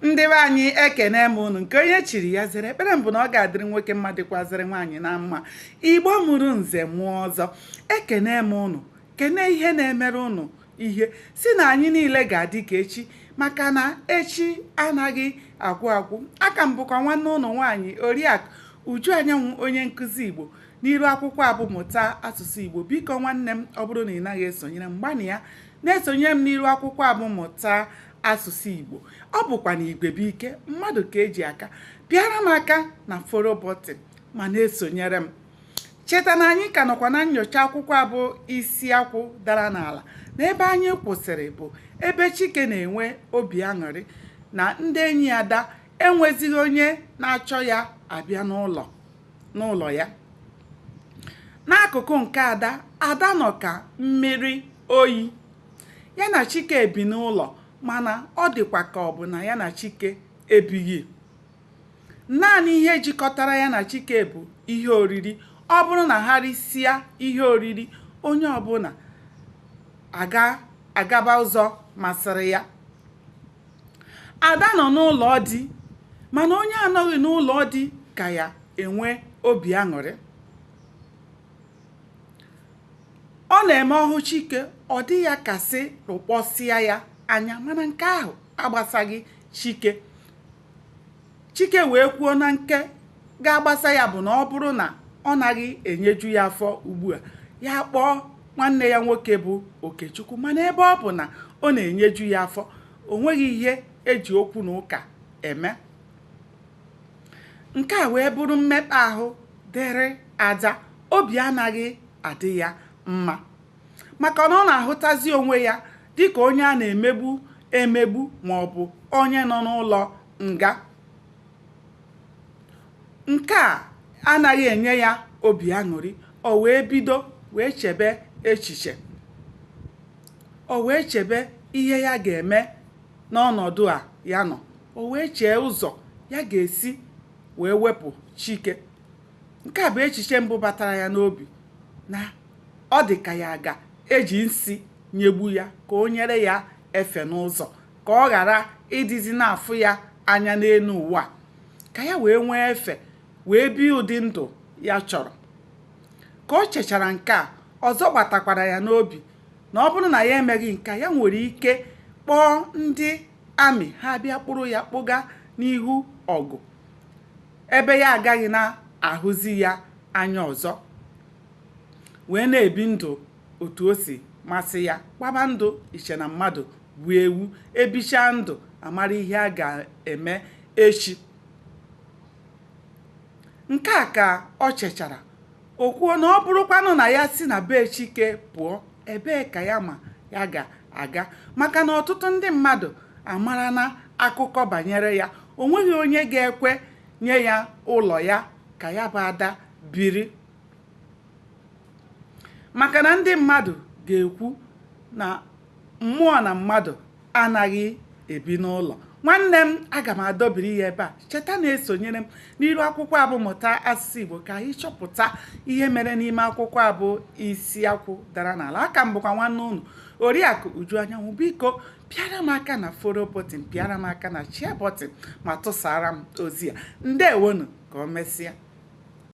ndị be anyị ekene m unu nke onye chiri ya zere ekpere m bụ na ọ ga-adịrị nwoke mma dịkwazịrị nwaanyị na mma igbo mụrụ nze mụọ ọzọ ekene m unu kene ihe na-emere unu ihe si na anyị niile ga-adị ka echi maka na echi anaghị agwụ agwụ aka m bụkwa nwanne unu nwaanyị oriakụ uju anyanwụ onye nkụzi igbo n'iru akwụkwọ a bụ mụta asụsụ igbo biko nwanne m ọ bụrụ na ị naghị esonyere m gbanịa na-esonyere m n'iru akwụkwọ a bụ mụta asụsụ Igbo ọ bụkwa na igwe bụ ike mmadụ ka eji aka pịara m aka na follow button ma na-esonyere m cheta na anyị ka nọkwa na nyocha akwụkwọ a bụ isi akwụ dara n'ala na ebe anyị kwụsịrị bụ ebe Chike na-enwe obi aṅụrị na ndị enyi Ada enwezighị onye na-achọ ya abịa n'ụlọ ya n'akụkụ nke Ada Ada nọ ka mmiri oyi ya na Chike ebi n'ụlọ mana ọ dịkwa ka ọ bụ na ya na Chike ebighị naanị ihe jikọtara ya na Chike bụ ihe oriri ọ bụrụ na ha risịa ihe oriri onye ọbụla agaba ụzọ masịrị ya Ada nọ n'ụlọ di mana onye anọghị n'ụlọ di ka ya enwe obi aṅụrị ọ na-eme ọ hụ Chike ọ dị ya ka sị rụkpọsịa ya anya mana nke ahụ agbasaghị Chike Chike wee kwuo na nke ga-agbasa ya bụ na ọ bụrụ na ọ naghị enyeju ya afọ ugbu a ya kpọọ nwanne ya nwoke bụ Okechukwu mana ebe ọ bụ na ọ na-enyeju ya afọ o nweghị ihe eji okwu na ụka eme nke a wee bụrụ mmekpa ahụ dịrị Ada obi anaghị adị ya mma maka na ọ na-ahụtazi onwe ya dịka onye a na-emegbu emegbu ma ọ bụ onye nọ n'ụlọ nga. Nke a anaghị enye ya obi aṅụrị, o wee bido wee chebe echiche. O wee chebe ihe ya ga-eme n'ọnọdụ a ya nọ. O wee chee ụzọ ya ga-esi wee wepụ Chike. nke a bụ echiche mbụ batara ya n'obi na ọ dị ka ya ga-eji nsi nyegbu ya ka o nyere ya efe n'ụzọ ka ọ ghara ịdịzi na-afụ ya anya n'elu ụwa ka ya wee nwee efe wee bie ụdị ndụ ya chọrọ ka o chechara nke a ọzọ gbatakwara ya n'obi na ọ bụrụ na ya emeghị nke a ya nwere ike kpọọ ndị army ha bịa kpụrụ ya kpụga n'ihu ọgụ ebe ya agaghị na-ahụzi ya anya ọzọ wee na-ebi ndụ otu o si masị ya gbaba ndụ iche na mmadụ bụ ewu ebichaa ndụ amara ihe a ga-eme echi nke a ka o chechara o kwuo na ọ bụrụkwanụ na ya si na be Chike pụọ ebee ka ya ma ya ga-aga maka na ọtụtụ ndị mmadụ amarana akụkọ banyere ya o nweghị onye ga-ekwe nye ya ụlọ ya ka ya bụ Ada biri maka na ndị mmadụ ga-ekwu na mmụọ na mmadụ anaghị ebi n'ụlọ nwanne m aga m adọbiri ya ebe a cheta na-esonyere m n'iru akwụkwọ a bụ mụta asụsụ Igbo ka anyị chọpụta ihe mere n'ime akwụkwọ a bụ isi akwụ dara n'ala aka m bụkwa nwanne unu oriakụ Uju Anyanwụ biko pịara m aka na follow button pịara m aka na share button ma tụsara m ozi a ndewonu ka o mesịa